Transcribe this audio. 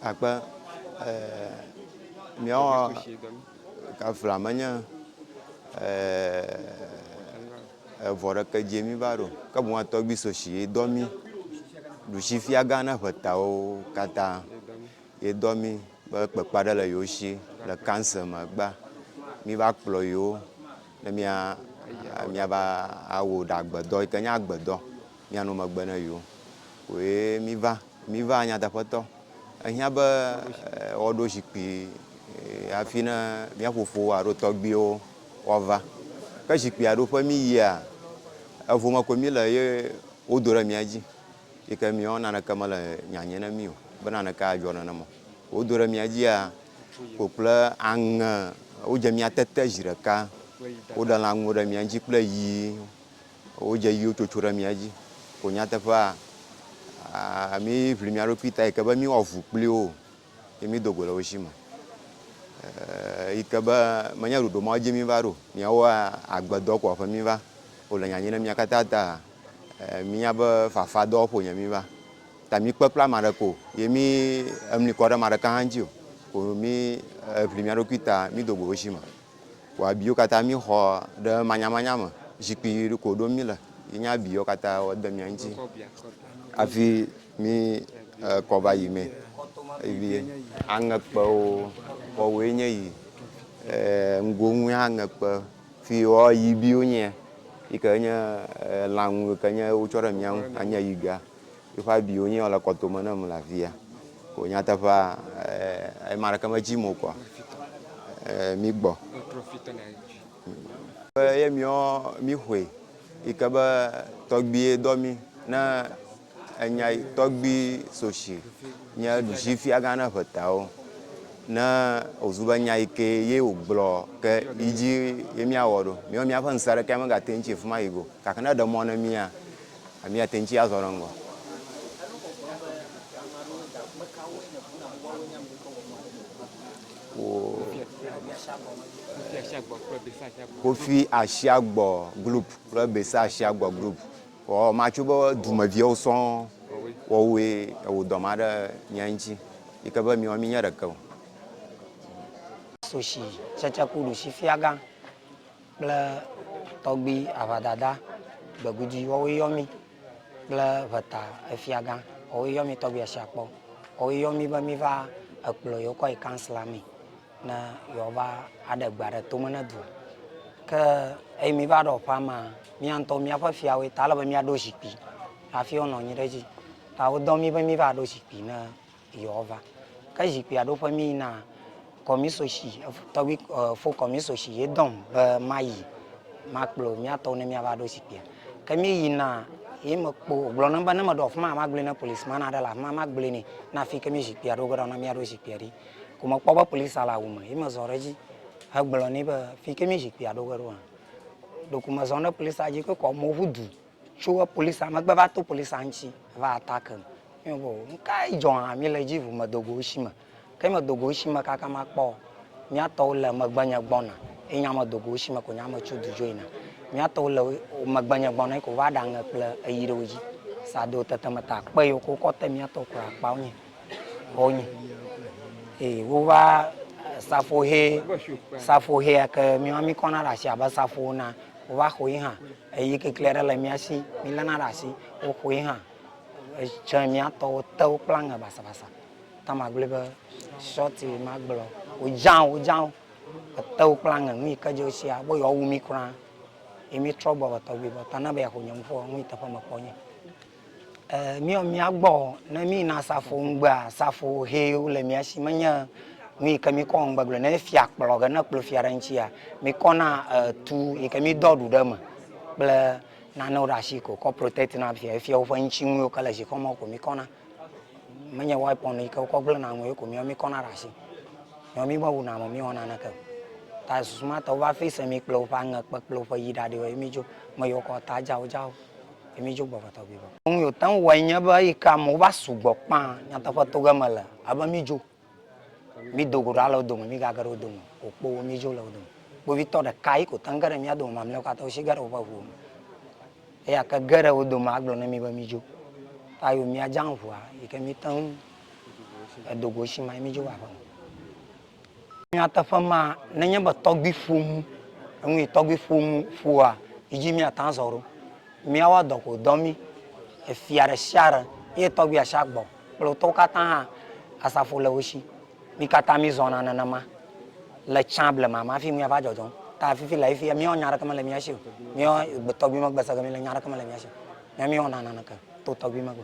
Akpe, Ɛɛ, míawa kafla menye evɔ ɖeke dzie mí va ɖo, ke boŋ atɔgbi so shi ye dɔ mí, ɖushi fiagã ne ŋetawo katã ye dɔ mí be kpekpea ɖe le yewo shi le kansel me gbea, mí va kplɔ yewo ne mía míava awo ɖe agbedɔ yi ke nye agbedɔ mía nu megbe ne yewo. Koe mí va. Mi va nyateƒetɔ. Ehiã be woaɖo zikpui hafi ne mía fofowo alo tɔgbuiwo woava. Ke zikpuia ɖoƒe míyia, evo me koe míle eye wodo ɖe mía dzi yi ke míawo naneke mele nyanyɛ na mí o be naneke adzɔ nenem o. Wodo ɖe mía dzia, ko kple aŋe, wodze mía tete zi ɖeka, woɖe lãnuwo ɖe mía dzi kple yi. Wodze yiwo tsotso ɖe mía dzi ko nyateƒea, aa, míeʋli mía ɖokui ta yi ke be míewɔ vu kpli wo o, ye míedo go le wo shi me, ee, yi ke be menye ɖoɖo mawo dzie míeva ɖo. Míawo agbedɔ ko wɔƒe míeva. Wòle nyanyui na mía katã ta, ee, mínya be fafa dɔwɔƒe wònye míeva. Ta míkpekpla ame aɖeke o, ye mí emli kɔ ɖe ame aɖeke hã ŋuti o, ko mí eʋli mía ɖokui ta, mído go wo shi me. Wò abiwo katã mí xɔ ɖe manyamanya me, zikpui yi ɖo ko wò ɖo mí le, yi nye abiwo katã wɔ de mía ŋuti. Afi mí kɔ va yi mɛ, evi ye. Aŋɛ kpe wo, wɔ woe nye yi, ŋgo ŋu ya aŋɛ kpe, fi wɔ yi biwo nyea, yi ke nye lãnu yi ke nye wo tsɔ ɖe mía ŋu, anye yi ga. Yeƒe abi wonye wole kɔtome nam le afia. Ko nyateƒea, eh, ame aɖeke medzim o kɔ. Eh, mi gbɔ. Be ye miɔ mi xɔe yi ke be tɔgbie dɔ mi ne enya yi tɔgbi soshi nye ɖushi fiaga ne ʋetawo ne ozu be nya yi ke ye wogblɔ ke yi dzi ye miawɔ ɖo. Miɔ miaƒe ŋse aɖeke mega te ŋtsi fima yi go. Gake ne ɖe mɔ ne mia. Míate ŋu azɔ ɖe ŋgɔ. Kofi Ashiagbɔ group kple Bese Ashiagbɔ group wɔ ma tso be dumeviwo sɔ wɔwoe ewo dɔ ma ɖe mía ŋuti yi ke be míawo mí nye ɖeke o. Soshi tsatsaku ɖusifiagã. kple tɔgbui aʋadada Gbegudui, woawoe yɔ mí, kple ʋeta efiagã, woawoe yɔ mí tɔgbui Ashiakpɔ, woawoe yɔ mí be míva ekplɔ yewo kɔ yi kansla mee ne yewoava aɖe gbe aɖe tome ne dua. Ke eyi míva ɖɔ ƒe amea, mía ŋutɔ míaƒe fiawoe ta ele be míaɖo zikpui le afi wonɔ anyi ɖe edzi. Ta wodɔ mí be míva ɖo zikpui ne yewoava. Ke zikpui aɖewo ƒe mii na kɔmisoshi tɔgbi fo kɔmisoshi ye dɔm be mayi makplɔ miatɔwo ne miava ɖo zikpuia. Ke mi yi na ye mekpɔ gblɔ nam be ne meɖo afi ma magblɔe na policeman aɖe le afi ma magblɔe nɛ na afi ke mi zikpuia ɖo ge ɖa na miaɖo zikpuia ɖi. Ko mekpɔ be policea le awu me ye mezɔ ɖe edzi hegblɔ nɛ be fi ke mi zikpuia ɖo ge ɖoa ɖeko mezɔ ɖe policea dzi ke kɔ amewo ƒu du Tso polisa megbe va to polisa ŋuti va atake me. Míawo bo nu kae dzɔ hã mi le dzi ŋu me dogo wo si me. Ke me dogo wo si me kaka ma kpɔ o. Mía tɔwo le megbe nye gbɔna eye nya me dogo wo si me ko nya me tso du dzo yina. Mía tɔwo le megbe nye gbɔna eko va ɖa ŋe kple eyi ɖe wo dzi. Sa do tete me ta kpe yi woko kɔ te mía tɔwo kura akpa wo nye wo nye. Eye wo va safo he safo he ya ke mía mi kɔna ɖe asi abe safo na wo va xo yi hã. Eye kekle aɖe le mía si, míléna ɖe asi, woƒoe hã. Etsɔe mía tɔwo te wo kple aŋe basabasa. Ta magblɔe be shorty magblɔ wodzã wodzã wo. Ete wo kple aŋe, nu yi ke dze wo sia be yewoawu mí kura. Ye míetrɔ gbɔ be tɔgbi be ta na be yeaxo nye nuƒo, nu yi teƒe mekpɔ nye. Eh, míɔ mía gbɔ ne mí na safo ŋgbea, safo he wole mía si menye nu yi ke mí kɔ ŋgbe gblɔ ne fia kplɔ ge ne kplɔ fia ɖe ŋuti ya mí kɔ na eh, tu yi ke mí dɔ ɖu ɖe me kple nane ɖe asi ko kɔ protect na fia efia woƒe ŋuti nu yi ke le zikɔ me ko mí kɔ na menye weapon yi ke wokɔ gblẽ na ŋue ko mí mí kɔ na ɖe asi mí mí me wu na me mí wɔ nane ke ta suma ta wova fi se mí kple woƒe aŋe kpekpe woƒe yi ɖa ɖe mí dzo me yi wokɔ ta dzawo dzawo Nu yi wòte ŋu wɔe nye be eyi ke amewo va sugbɔ kpã nyateƒe to ge me le abe mídzo, mído go ɖa le wo dome, mígage ɖe wo dome o, kpo wo mídzo le wo dome. Kpovitɔ ɖeka yi ke wòte ŋu ge ɖe mía dome, mamlɛawo katã wotsi ge ɖe woƒe ŋuwo me. Eya ke ge ɖe wo dome agblɔ na mí be mídzo. Ta yi wò míadze aŋu ʋua yi ke míete ŋu edo go esi ma ye mídzo va aƒeme. Nyateƒe ma, nenye be tɔgbui ƒo nu, eŋu yi tɔgbui ƒo nu ƒoa, yi dzi míatã zɔ ɖo. Míawa dɔ ko dɔ mí, efia ɖe sia ɖe, eye tɔgbuia sia gbɔ kple wotɔwo katã hã, asafo le wo si. Mí katã mízɔna nenema le tsã blema ma fi ŋue va dzɔdzɔm. Ta fifi le fifia, míawɔ nya aɖeke mele mía si o. Míawo gbe tɔgbui megbe se ge mí le nya aɖeke mele mía si o. Míawo míwɔna naneke to tɔgbui megbe.